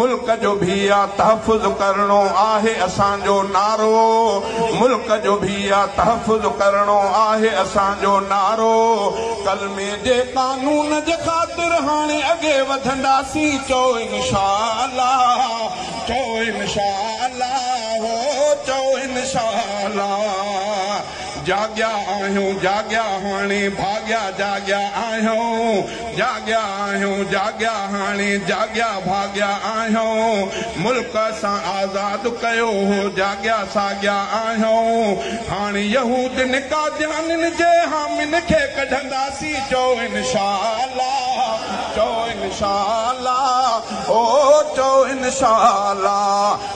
ملڪ جو ڀيء تحفظ ڪرڻو آهي اسان جو نعرو ملڪ جو ڀيء تحفظ ڪرڻو آهي اسان جو نعرو ڪلمي جي قانون جي خاطر هاڻي اڳي وڌنداسين چئو انشاء الله چئو انشاء الله هو چئو انشاء الله. جاڳيا آهيون جاڳيا هاڻي ڀاڳيا جاڳيا آهيون جاڳيا آهيون جاڳيا هاڻي جاڳيا ڀاڳيا آهيون ملڪ اسان آزاد ڪيو هو جاڳيا ساڳيا آهيون هاڻي يهودين قاديانين جي حامين کي ڪڍنداسين چئو انشاءالله چئو انشاءالله او چئو انشاءالله.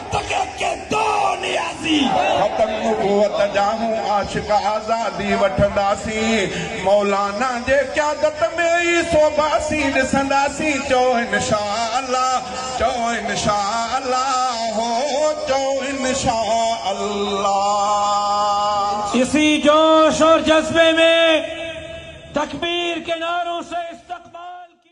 فقط ڪي دو نيازي. ختم نبوت جا هون عاشق آزادي وٺنداسين مولانا جي قيادت ۾ ئي سوڀاسين ڏسنداسين چئو انشاءالله چئو انشاءالله هو چئو انشاءالله. اسي جوش اور جذبي مين تڪبير ڪي نعرون سي استقبال ڪي.